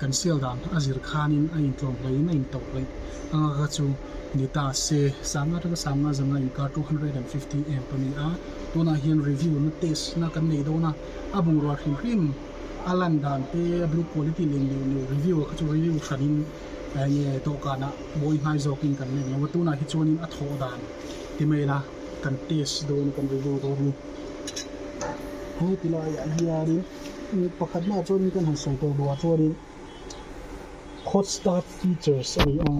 Kan sial dan a zir khanin a intlawm hlein a intauh hleih anga kha chu ni ta se. Sam atanga sam nga zanga inkar two hundred and fifty amp a ni a, tunah hian review na test na kan nei dawn a, a bungrua hrim hrim, a lan dan te, a build quality len leh leh review a kha chu review hranin enge dawhkanah bawi hnai zawkin kan nek lo a, tunah hi chuanin a thawh dan ti mai la, kan test dawn a kan review dawn a ni. Heti laiah hianin. Mi pakhatnaah chuan in kan han sawi tawh duhah chuanin hot start features a ni a,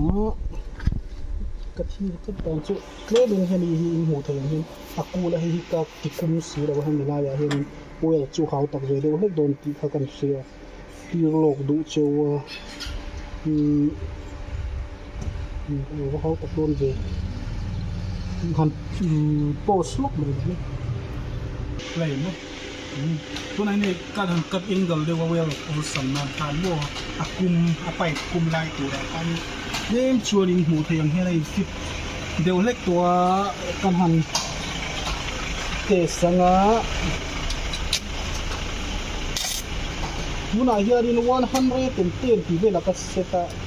ka thlir tlat dan chu tlemin hemi hi in hmuh theih ang hian a kula hei hi ka ti kum si lo a, hemi laiah hianin oil chu hau tak ve deuh hlek dawn tih kha kan hria tir lawk duh che a, umm a hau tak dawn ve han umm post hlawk mai hle mai. Tunah hian hei cut han cut angle deuh a weld awlsam nan tan maw a kum a pipe kum lai turah khan tlem chuan in hmuh theih ang hian a in fit deuh hlek tawh a kan han test anga tunah hian in one hundred and ten tih vel a ka set a.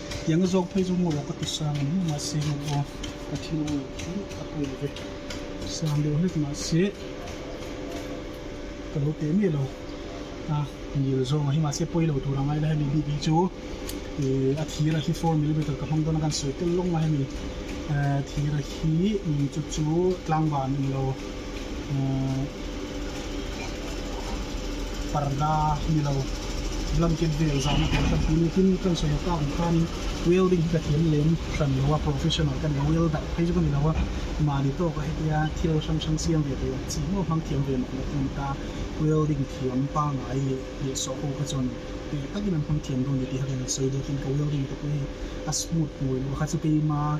Tianga zawk phei chu ngaw ka ti sang em mah se ngaw pawh ka thil awm lo chu a tui ve sang deuh hlek mah se ka lo pe miah lo a nil zawng ah hi mah se pawi lo tur angai la hemi bik hi chu ih a thira hi four millimeter ka hmang dawn a kan sawi tel lawng a hemi eh thira hi ih chu chu tlangval ni lo. parda ni lo blanket vel zan a kan ti mai tin kan sawi aka awm khan in welding hi ka thiam lem hran lo a professional ka ni a welder phei chu ka ni lo a mahni tawk a hetia thil hrang hrang siam ve thei ang chi mawi hmang thiam ve mawh loh ka ni ta welding thiam pangai leh leh saw ho kha chuan tui takin an hmang thiam dawn ni tih kha kan sawi dawn a tin ka welding te pawh hi a smooth hmawih loh a kha chu keima--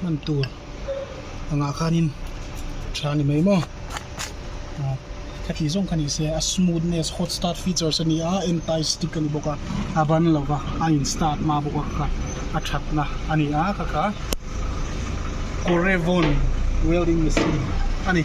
hman tur angah khanin tha ni mai maw ah khatih zawng kha ni se a smoothness hot start features a ni a anti stick a ni bawk a a ban lo va a in start hma bawk a ka a thatna a ni a ka kha corevon welding machine a ni.